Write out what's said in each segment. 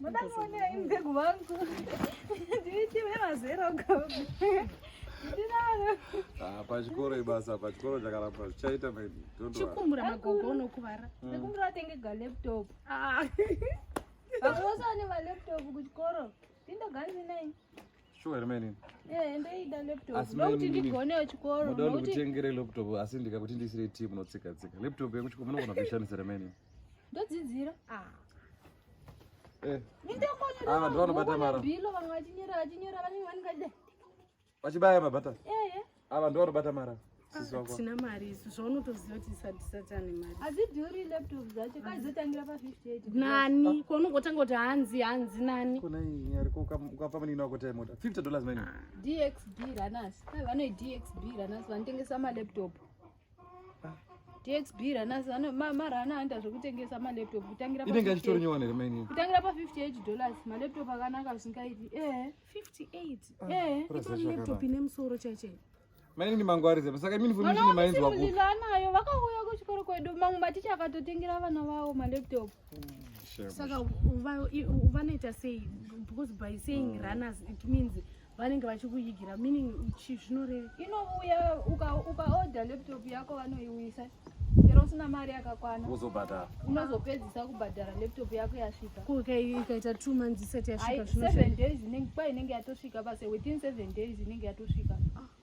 Mudakuonei mdegu wangu. Nditi wemazera ugabu. Ah, pachikoro ibasa pachikoro chakaramba zvichaita chikumbura magogo unokuvara mm. nekumbura atenge galaptop ah. vamwe vose vane valaptop kuchikoro tindoganzi nei Sure here meni? Eh, ndoida laptop. Ndokuti ndigonewo chikoro. Ndoda ndikutengere laptop asi ndikakuti ndisire team notsika tsika. Laptop yekuchikoro munogona kuishandisa here meni? Ndodzidzira. Ah. Eh. Nindokonyera. Ah, ndovanobata mara. Bilo vanga vachinyera vachinyera vanenge vaningade. Vachibaya mabata. Eh, eh. Ava ndo vanobata mara. Sina mari isu zvaunotoziva kuti sadisati ane mari. Azidhuri laptop dzacho kaizotangira pa 58. Nani ko unongotanga kuti hanzi hanzi nani. Kuna iyi ariko ukapa mani ino akota mota. 50 dollars mani. DXB runners. Vanoyi DXB runners vanotengesa ma laptop. DXB ranasi vano mara ana anda zvekutengesa ma laptop kutangira inenge achitori nyowani here maini kutangira pa 58 dollars ma laptop akanaka zvingaiti eh 58 ah, eh itori laptop ine musoro chache maini ni mangwari zepa saka mini foni chine maini zwa kuti anayo vakauya ku chikoro kwedu mangu maticha akatotengera vana vawo ma laptop hmm, saka vanoita sei because by saying hmm. runners it means vanenge vachikuigira meaning chi zvinoreva inouya ukaodha laptop yako vanoiwisa chero usina mari yakakwana uzobhadhara unozopedzisa kubhadhara laptop yako yasvika ikaita two months isati yasvika seven days kwai inenge yatosvika base within seven days inenge yatosvika ah.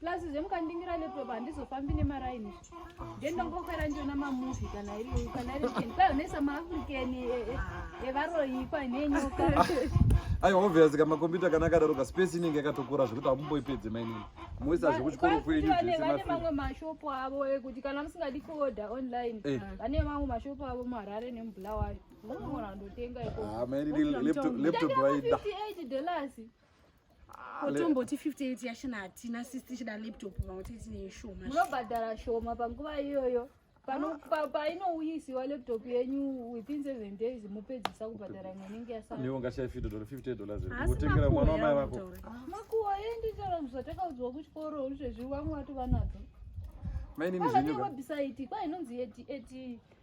plus zvemukandingira laptop handizofambi nemaraini ndendongokwera ndiona mamuvi kana iri kana iri ken kwayo nesa maafrican evaroyi e, e, kwa nenyoka aiwa obvious ka makombiyuta kana akadaro ka space inenge yakatokura zvekuti hamumboipedze mainini moisa zvekuchikoro kwenyu zvesevane mamwe mashopo avo ekuti eh, kana musingadi kuoda online eh. vane mamwe mashopo avo muharare nemubulawayo unoona ndotenga ikoailaptop ah, vaida kotomboti 58 yashina hatina sisi tichida laptop pamwe tete tine ishoma munobhadhara shoma panguva iyoyo ah. painouyisiwa laptop yenyu within seven days mopedzisa kubhadhara imwe inenge yasaaiwongashaifidodor50 mwana wamai vako ah. makuwa yenditaura zvatakaudzwa kuchikoro zvezvi vamwe vato vanadzo mainini zvenyuwebhisaiti kwainonzi eti eti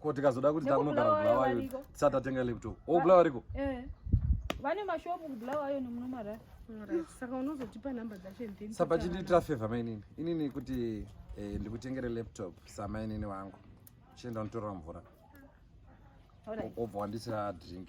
ko tikazoda kuti takunogara kubulawayo tisati tatenga laptop o oh, bulawa riko eh. vane mashopu kubulawayo nemunomarara saka unozotipa number dzacho sapa chindiitira favor mainini inini kuti eh, ndikutengere laptop samainini wangu chienda unotorera mvura obva wandisira drink